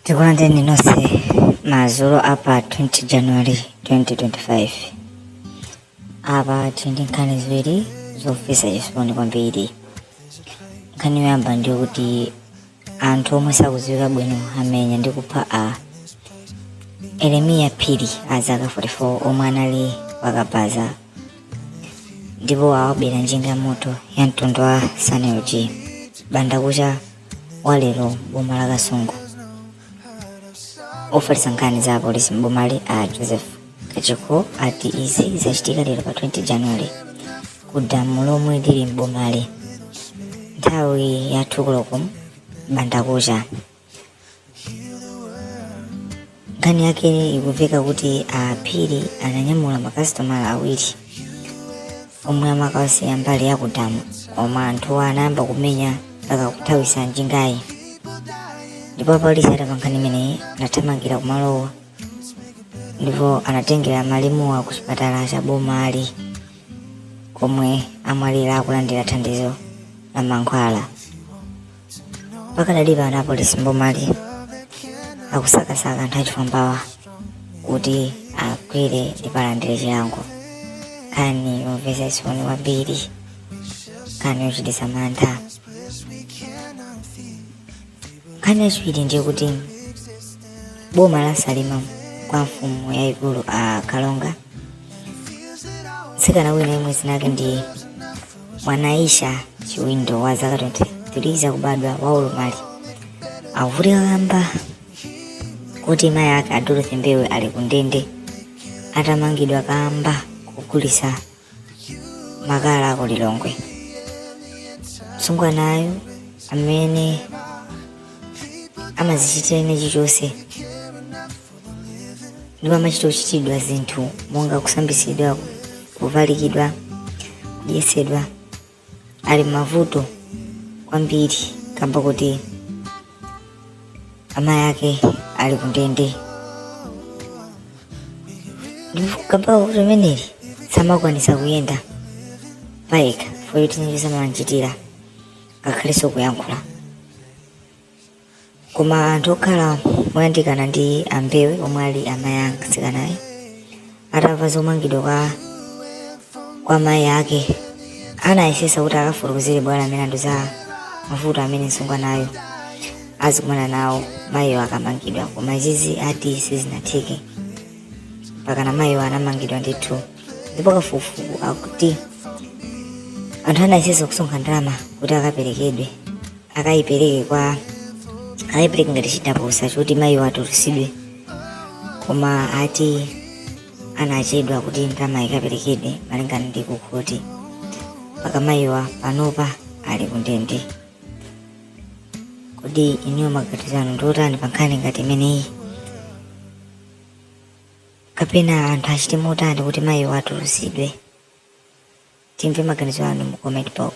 tikulandireni nonse madzulo apa 20 january 2025 apa tili ndi nkhani ziwiri zomvetsa chisoni kwambiri nkhani yoyamba ndiyo kuti anthu omwe sakudziwika bwino amenya ndi kupha a eremiya phiri a zaka 44 omwe anali wakabaza ndipo awabera njinga ya moto ya mtundu wa sanlg m'bandakucha wa lero m'boma la kasungu ofalitsa nkhani za apolisi m'bomali a joseph kachikho ati izi zachitika lero pa 20 january ku damu lomwe lili m'bomali nthawi ya 2 koloko m'bandakucha nkhani yake ikumveka kuti a phiri ananyamula makasitomala awiri omwe amakawasiya mbali ya kudamu koma anthuwo anayamba kumenya mpaka kuthawitsa njingayi ndipo apolisi atamva nkhani imeneyi anathamangira kumalowa ndipo anatengera malemuwa ku chipatala cha bomali komwe amwalira akulandira thandizo la mankhwala pakadali pano apolisi mbomali akusakasaka anthu achifwambawa kuti agwire ndipo alandire chilango nkhani yomvetsa chisoni kwambiri nkhani yochititsa mantha nkhani yachiwiri ndiye kuti boma la salima kwa mfumu yayikulu a kalonga mtsikana wina yemwe dzina lake ndi mwanaisha chiwindo wa zaka 23 zakubadwa wa ulumali akuvutika kamba kuti mayi ake a dorothy mbewe ali kundende atamangidwa kamba kogulitsa makala ku lilongwe msungwanayo amene samadzichitira chinachilichonse ndipo amachita kuchitidwa zinthu monga kusambitsidwa kuvalikidwa kudyetsedwa ali m'mavuto kwambiri kamba kuti amayi ake ali kundende ndipo kamba kuti ameneyu samakwanitsa kuyenda payekha foyoti zinachosamalanchitira ngakhalenso kuyankhula Koma anthu okhala moyandikana ndi a Mbewe omwe ali amayi a mtsikanayo atamva zomangidwa kwa mayi ake anayesesa kuti akafotokozere bwalo la milandu za mavuto amene msungwanayo azikumana nawo mayiyo akamangidwa koma izizi ati sizinatheke mpakana mayiyo anamangidwa ndithu ndipo kafukufuku akuti anthu anayesesa kusonkha ndalama kuti akaperekedwe akayipereke kwa akayipereke ngati chitapusa choti mayiwa atulusidwe koma ati anachedwa kuti ndalama ikaperekedwe malingana ndi kukhoti mpaka mayiwa panopa ali kundende kodi inuyo maganizo anu ndiotani pa nkhani ngati imeneyi kapena anthu achite motani kuti mayiwa atulusidwe timve maganizo anu mu comment box